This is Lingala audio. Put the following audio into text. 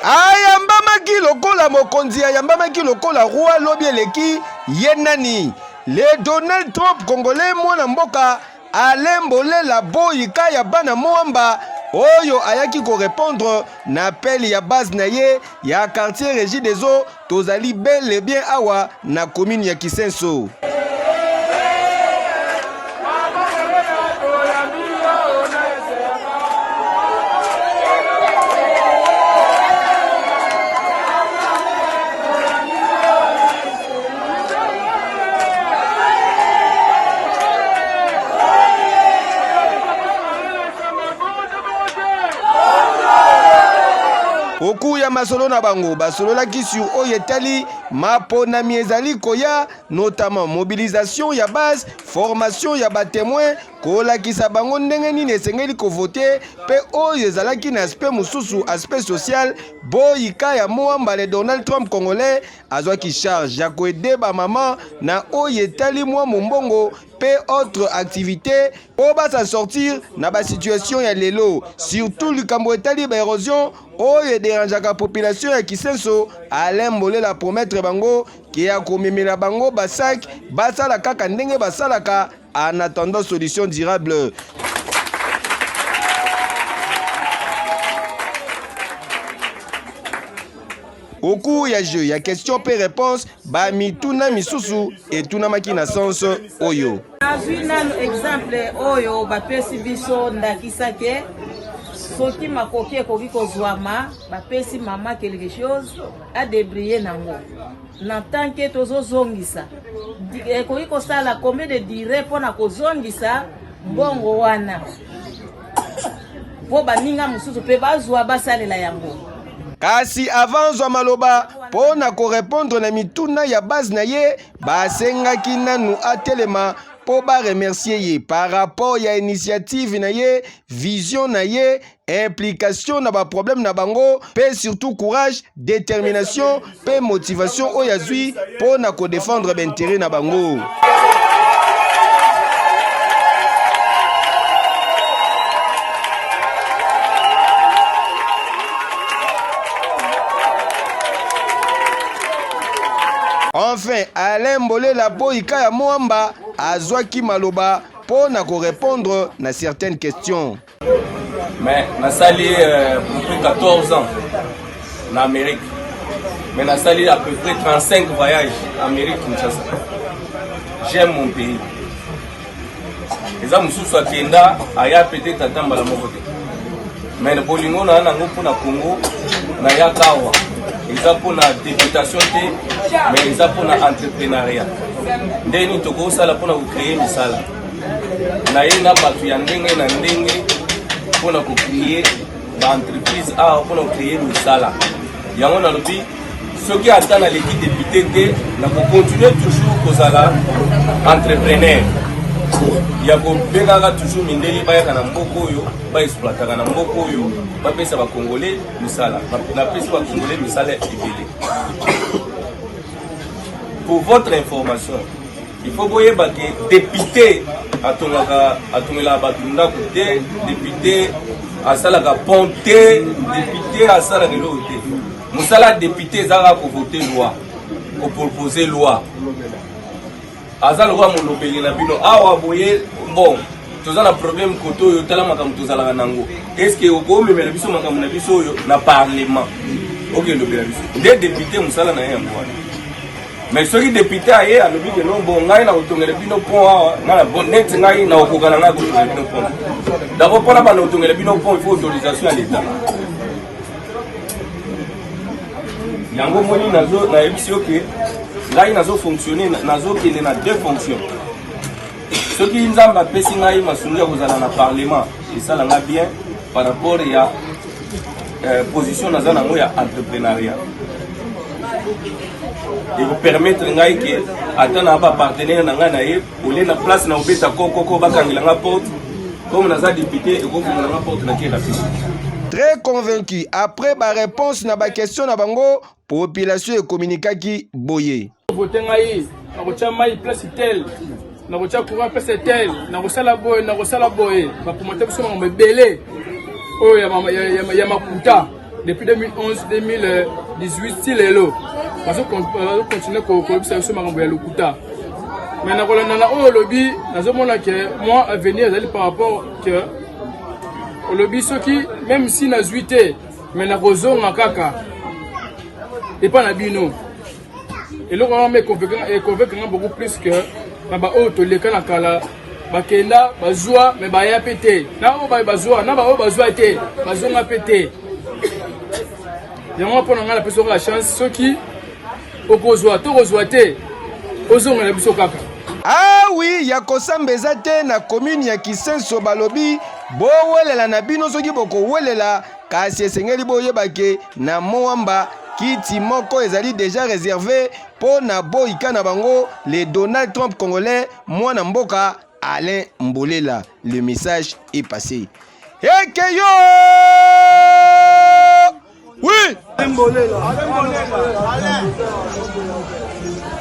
ayambamaki lokola mokonzi ayambamaki lokola roi lobi eleki ye nani le donald trump congolais mwana mboka alain bolela boyika ya bana mwamba oyo ayaki korepondre na apele ya base na ye ya quartier regi des eaux Tozali bel et bien awa na commune ya Kisenso. Oku ya masolo na bango basololaki sur oyo etali maponami ezali koya notamment mobilisation ya base formation ya batemoin kolakisa bango ndenge nini esengeli kovote mpe oyo ezalaki na aspect mosusu aspect social boyika ya moa mbale donald trump congolais azwaki charge ya koede bamama na oyo etali mwa mombongo pe autre activité po ba s'en sortir na ba situation ya lelo surtout likambo etali ba érosion oyo ederangeaka population ya Kisenso Alain Mbolela promettre bango ke ya komemela bango basak basala kaka ndenge basalaka en attendant solution durable Au cours ya jeu ya question mpe réponse, ba mituna misusu etunamaki na sens oyo. Nazwi nanu exemple oyo bapesi biso ndakisa ke soki makoki ekoki kozwama bapesi mama quelque chose adebrille nango na tant ke tozozongisa ekoki kosala combien de dire mpo na kozongisa mbongo wana mpo baninga mosusu mpe bazwa basalela yango kasi avant zwa maloba mpo na korepondre na mituna ya base na ye basengaki nanu atelema mpo baremercie ye par rapport ya initiative na ye vision na ye implication na baproblème na bango mpe surtout courage détermination pe motivation oyo azui po na ko defendre ba interet na bango. Enfin, Alain Mbolela Boyika ya Mwamba azwaki maloba mpo na korepondre na certaines questions. Mais nasali euh, plus 14 ans na Amérique. Mais nasali à peu près 35 voyages en Amérique Kinshasa. J'aime mon pays. eza mosusu akenda aya peut-être ata mbala moko te mais bolingo na nango mpo na congo nayaka awa eza mpo na deputation te mais eza mpo na entreprenariat ndenge nini tokosala mpo na kocreye misala na ye na bato ya ndenge na ndenge mpo na kokreye baentreprise awa mpo na kokreye misala yango nalobi soki ata naleki depute te nakokontinue toujours kozala entrepreneur ya kobengaka toujours mindele bayaka na mboka oyo baexploitaka na mboka oyo bapesa bakongole misala napesi bakongole misala ebele pour votre information Il faut boyeba ke depute atongaka atongelaka bato ndako te depute asalaka pont te depute asalaka eloko te mosala ya depute ezalaka kovote loi kopropose loi aza lokola molobeli na bino awa boye bon toza na problème kote oyo tala makambo tozalaka nango estce okomemela biso makambo na biso oyo na parlement okelobela biso nde depute mosala na ye yango wana mais soki depute aye alobi ke no bo ngai na kotongela bino pont awa nga na bon neti ngai na kokoka na ngai kotongela bino pont d'abord mpona banda kotongela bino pont il faut autorisation ya leta yango omoni nayebisi yo ke ngai nazo fonctionne nazokende na deux fonctions soki nzambe apesi ngai masolo ya kozala na parlement esala nga bien par rapport ya euh, position naza nango ya entreprenariat ekopermettre ngai ke ata na bapartenaire na ngai na ye olie na place na obeta kokoko bakangela nga porte comme naza depute ekofungola nga porte na kera fisi très convaincu après ba réponse na ba question na bango Population e communiquaki boye. Vote ngai nakotya mai place tel nakotya courant place tel nakosala boye nakosala boye bapromoteurs biso makambo ebele oyo ya, ya, ya, ya makuta depuis 2011 2018 ti lelo bazokontinue kolobisa biso makambo ya lokuta mais na kolanda na oyo olobi nazomona ke moi avenir ezali par rapport ke olobi soki même si nazwi te me nakozonga kaka epa na bino eloko wana ma econvaincre nga beaucoup plus que na baoyo toleka na kala bakenda bazwa me baya mpe te na oyo baye bazwa na baoyo bazwa te bazonga mpe te yango mpo na ngai napesi okola chance soki okozwa to kozwa te ozongela biso kaka awi ah ya kosamba eza te na komini ya kisenso balobi bowelela na bino soki bokowelela Kasi esengeli boyeba ke na Moamba kiti moko ezali deja reserve mpo na boyika na bango le Donald Trump congolais mwana mboka Alain Mbolela. Le message est passé. Ekeyo! Oui! Alain Mbolela. Alain Mbolela. Alain.